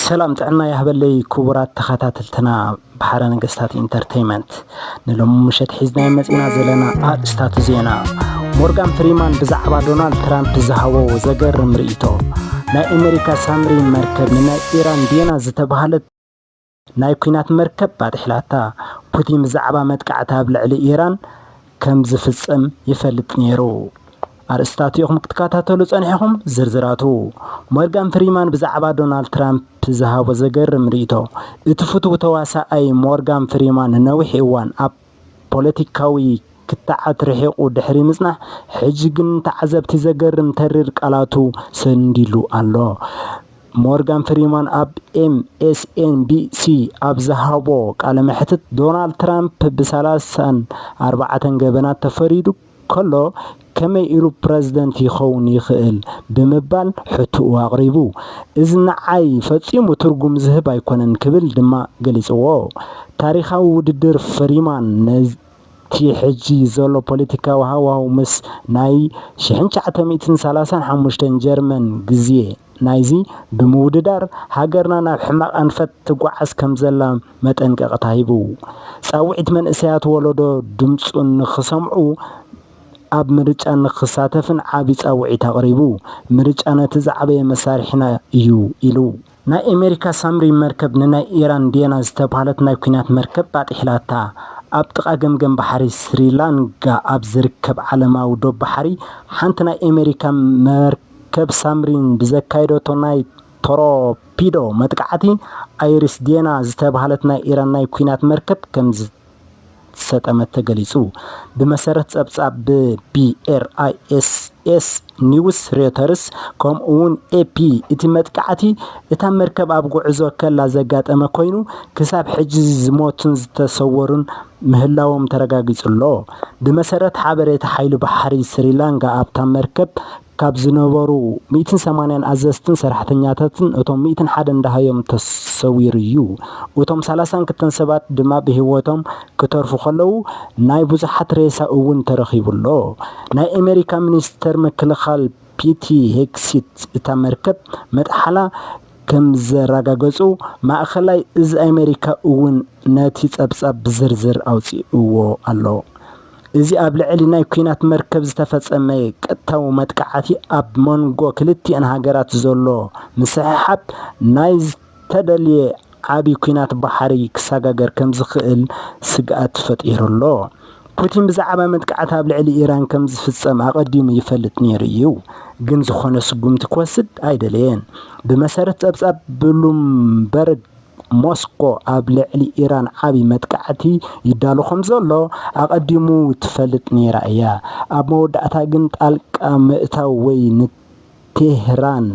ሰላም ጥዕና ይሃበለይ ክቡራት ተኸታተልትና ብሓረ ነገስታት ኢንተርቴይመንት ንሎሚ ምሸት ሒዝናዮ መፂና ዘለና ኣርእስታት ዜና ሞርጋን ፍሪማን ብዛዕባ ዶናልድ ትራምፕ ዝሃቦ ዘገርም ርእይቶ ናይ ኣሜሪካ ሳምሪን መርከብ ንናይ ኢራን ዴና ዝተባሃለት ናይ ኲናት መርከብ ኣጥሒላታ። ፑቲን ብዛዕባ መጥቃዕቲ ኣብ ልዕሊ ኢራን ከም ዝፍጸም ይፈልጥ ነይሩ። ኣርእስታት ኢኹም ክትከታተሉ ጸኒሕኹም። ዝርዝራቱ ሞርጋን ፍሪማን ብዛዕባ ዶናልድ ትራምፕ ዝሃቦ ዘገርም ርእይቶ። እቲ ፍቱው ተዋሳኣይ ሞርጋን ፍሪማን ንነዊሕ እዋን ኣብ ፖለቲካዊ ክትዓት ርሒቑ ድሕሪ ምጽናሕ፣ ሕጂ ግን ንተዓዘብቲ ዘገርም ተሪር ቃላቱ ሰንዲሉ ኣሎ። ሞርጋን ፍሪማን ኣብ ኤምኤስኤንቢሲ ኣብ ዝሃቦ ቃለ መሕትት፣ ዶናልድ ትራምፕ ብሰላሳን ኣርባዕተን ገበናት ተፈሪዱ፣ ከሎ ከመይ ኢሉ ፕረዚደንት ይኸውን ይኽእል ብምባል ሕትኡ ኣቕሪቡ። እዚ ንዓይ ፈጺሙ ትርጉም ዝህብ ኣይኮነን ክብል ድማ ገሊጽዎ። ታሪኻዊ ውድድር ፍሪማን ነቲ ሕጂ ዘሎ ፖለቲካዊ ሃዋህው ምስ ናይ ሽሕን ትሽዓተ ሚእትን ሰላሳን ሓሙሽተን ጀርመን ግዜ፣ ናይዚ ብምውድዳር ሃገርና ናብ ሕማቕ ኣንፈት ትጓዓዝ ከምዘላ መጠንቀቕታ ሂቡ። ጻውዒት መንእሰያት ወለዶ ድምጹ ንኽሰምዑ ኣብ ምርጫ ንኽሳተፍን ዓቢ ጻውዒት ኣቕሪቡ። ምርጫ ነቲ ዝዓበየ መሳርሒና እዩ ኢሉ። ናይ ኣሜሪካ ሳምሪን መርከብ ንናይ ኢራን ዴና ዝተብሃለት ናይ ኲናት መርከብ ኣጥሒላታ። ኣብ ጥቓ ገምገም ባሕሪ ስሪላንጋ ኣብ ዝርከብ ዓለማዊ ዶብ ባሕሪ ሓንቲ ናይ ኣሜሪካ መርከብ፣ ከብ ሳምሪን ብዘካየደቶ ናይ ቶሮፒዶ መጥቃዕቲ፣ ኣይሪስ ዴና ዝተብሃለት ናይ ኢራን ናይ ኲናት መርከብ ከምዝሰጠመት ተገሊጹ። ብመሰረት ጸብጻብ ብ BRISS ኒውስ፣ ሮይተርስ ከምኡ'ውን ኤፒ፣ እቲ መጥቃዕቲ እታ መርከብ ኣብ ጉዕዞ ከላ ዘጋጠመ ኮይኑ፣ ክሳብ ሕጂ ዝሞቱን ዝተሰወሩን ምህላዎም ተረጋጊጹ'ሎ። ብመሰረት ሓበሬታ ሓይሊ ባሕሪ ስሪላንካ ኣብታ መርከብ ካብ ዝነበሩ ሚእትን ሰማንያን ኣዘዝትን ሰራሕተኛታትን እቶም ሚእትን ሓደን ደሃዮም ተሰዊሩ'ዩ። እቶም ሰላሳን ክልተን ሰባት ድማ ብህይወቶም ክተርፉ ከለዉ ናይ ብዙሓት ሬሳ እውን ተረኺቡ'ሎ። ናይ ኣመሪካ ሚኒስተር ምክልኻል ፒቲ ሄግሲት እታ መርከብ መጥሓላ ከምዘረጋገጹ ማእኸላይ እዝ ኣሜሪካ እውን ነቲ ጸብጻብ ብዝርዝር ኣውጺኡዎ ኣሎ። እዚ ኣብ ልዕሊ ናይ ኲናት መርከብ ዝተፈጸመ ቀጥታዊ መጥቃዕቲ ኣብ መንጎ ክልቲኣን ሃገራት ዘሎ ምስሕሓብ ናይ ዝተደልየ ዓቢ ኲናት ባሕሪ ክሰጋገር ከምዝኽእል ስግኣት ፈጢሩ'ሎ። ፑቲን ብዛዕባ መጥቃዕቲ ኣብ ልዕሊ ኢራን ከም ዝፍጸም ኣቐዲሙ ይፈልጥ ነይሩ እዩ፣ ግን ዝኾነ ስጉምቲ ክወስድ ኣይደለየን። ብመሰረት ጸብጻብ ብሉምበርግ፣ ሞስኮ ኣብ ልዕሊ ኢራን ዓቢ መጥቃዕቲ ይዳሎ ከም ዘሎ ኣቐዲሙ ትፈልጥ ነይራ እያ፣ ኣብ መወዳእታ ግን ጣልቃ ምእታው ወይ ቴህራን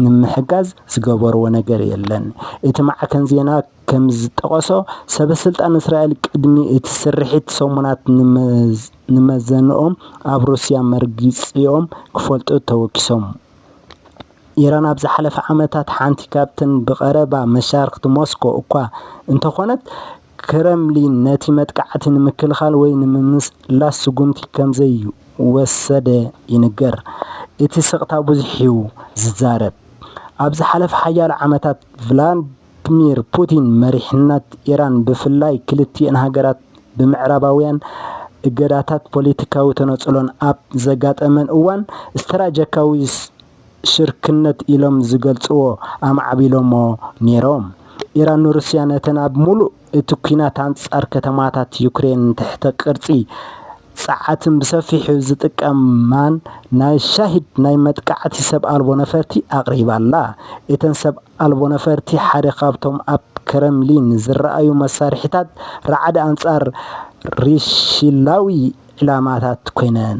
ንምሕጋዝ ዝገበርዎ ነገር የለን። እቲ ማዕከን ዜና ከምዝጠቐሶ፣ ሰበስልጣን እስራኤል ቅድሚ እቲ ስርሒት ሰሙናት ንመዘንኦም ኣብ ሩስያ መርግጺኦም ክፈልጡ ተወኪሶም። ኢራን ኣብ ዝሓለፈ ዓመታት ሓንቲ ካብተን ብቐረባ መሻርኽቲ ሞስኮ እኳ እንተዀነት፣ ክረምሊን ነቲ መጥቃዕቲ ንምክልኻል ወይ ንምምስላስ ስጉምቲ ከምዘይወሰደ ይንገር። እቲ ስቕታ ብዙሕ'ዩ ዝዛረብ። ኣብ ዝሓለፈ ሓያሎ ዓመታት ቭላድሚር ፑቲን መሪሕነት ኢራን ብፍላይ ክልቲኤን ሃገራት ብምዕራባውያን እገዳታትን ፖለቲካዊ ተነጽሎን ኣብ ዘጋጠመን እዋን ስትራጀካዊ ሽርክነት ኢሎም ዝገልጽዎ ኣማዕቢሎሞ ኔሮም። ኢራን ንሩስያ ነተን ኣብ ምሉእ እቲ ኲናት ኣንጻር ከተማታት ዩክሬን ትሕተ ቅርጺ ጸዓትን ብሰፊሑ ዝጥቀማን ናይ ሻሂድ ናይ መጥቃዕቲ ሰብ ኣልቦ ነፈርቲ ኣቕሪባ'ላ። እተን ሰብ ኣልቦ ነፈርቲ ሓደ ካብቶም ኣብ ክረምሊን ዝረኣዩ መሳርሒታት ራዕዲ ኣንጻር ርሽላዊ ዒላማታት ኰይነን።